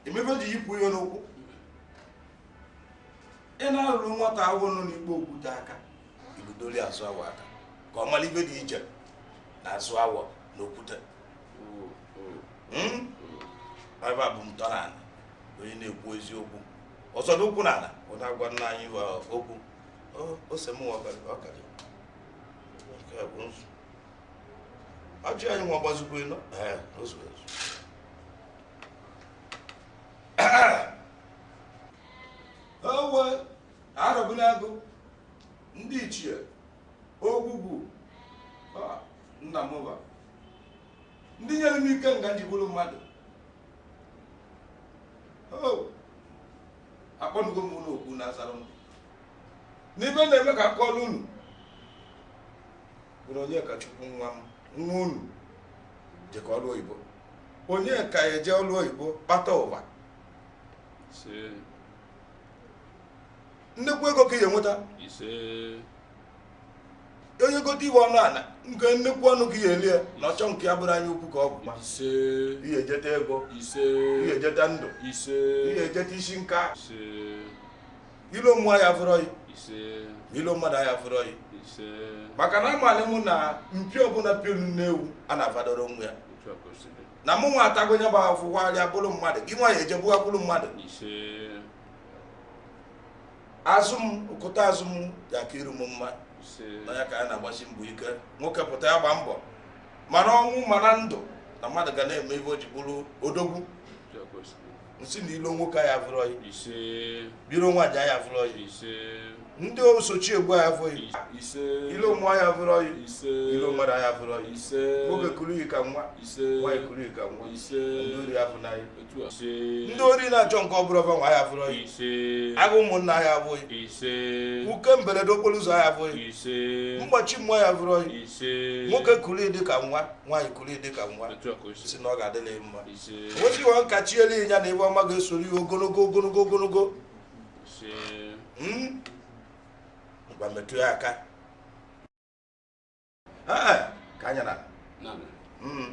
emebe ji yipụ ya n'ụkwụ ị na-arụrụ nwata awọ nọ n'ikpo okwute aka igudoli azụ awọ aka ka ọ mara ive dị iche na azụ awọ na okwute hmm? ebe a bụ ntọala onye na-ekwu eziokwu ọ zọdo ụkwụ n'ana ọ na-agwa nna anyị okwu ose m ọkarị nke bụ nzu ọjị anyị nwa gbazikwu ịnọ owe arọbịnagụ ndị ichie ogwugwu Ah, nna m ụba ndị nyere m ike nga nji bụrụ mmadụ Oh, akpọnugo m unu oku na-azara m n'ive na-eme ka aka ọrụ unu bụrụ onye ka chukwu nwa m nwa unu jekọ ọrụ oyibo onye ka eje ọrụ oyibo kpata ụba ise nnekwu ego ka ị ga-enweta ise onye gote ive ọnụ ala nke nnekwu ọnụ ka ị ga-ele ya na ọchọ nke ya bụrụ anya ukwu ka ọ bụ ma ise ị ga-ejeta ego ise ị ga-ejeta ndụ ise ị ga-ejeta isi nka ise ilo mmụọ ya fụrọ yi ise ilo mmadụ ya fụrọ yi ise maka na amalị mụ na mpi ọbụla piolu nne ewu a na-afadoro onwe ya otu a ka o si dị na mụ nwa atago nya bụ afụfụ warịa bụrụ mmadụ gị nwa ya ejebuga bụrụ mmadụ azụ m ụkụta azụ m ya-aka iru m mma nya ka a na-agbasi mbọ ike nwoke pụta ya gba mbọ ma na ọnwụ ma na ndụ na mmadụ ga na-eme ive o ji bụrụ odogwu nsị na ilo nwoke ya vụrọ yi ise biro nwaanyị ya vụrọ yi ise ndị osochi egbu ya vụrọ yi ise ilo mmụọ ya vụrọ yi ise ilo mmadụ ya vụrọ yi ise nwoke kuru yi ka nwa ise nwaanyị kuru yi ka nwa ise ndị ori ya vụrọ yi otu a ise ndị ori na-achọ nke ọ bụrụ va nwe ya vụrọ yi ise agụ ụmụnna ya vụrọ yi ise uke mberede okporo ụzọ ya vụrọ yi ise mgbachi mmụọ ya vụrọ yi ise nwoke kuru yi dị ka nwa nwaanyị kuru yi dị ka nwa otu a ka o si si na ọ ga-adịla ya mma wezie aka chiele ịnya na ive ọma ga-esoro yi ogologo ogologo ogologo hmm? ngwa metụ ya aka ka anyị naa hmm.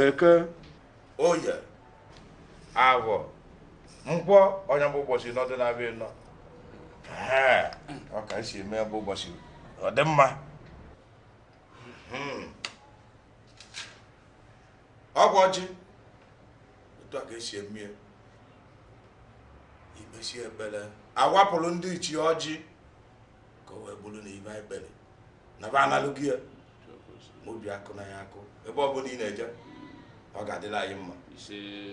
eke oye avọ nkwọ ọ nya bụ ụbọchị nọdụ na-abịa nọ ọ ka esi eme bụ ụbọchị ọ dị mma hmm. ọ bụ ọjị otu a ka esi eme ya i kpesịa ekpere awapụrụ ndị ichie ọjị ka o wee bụrụ na ibe anyị kpere na ba analụghị ya ma obi akụ na ya akụ ebe ọ bụla ị na-eje ọ ga-adịlị anyị mma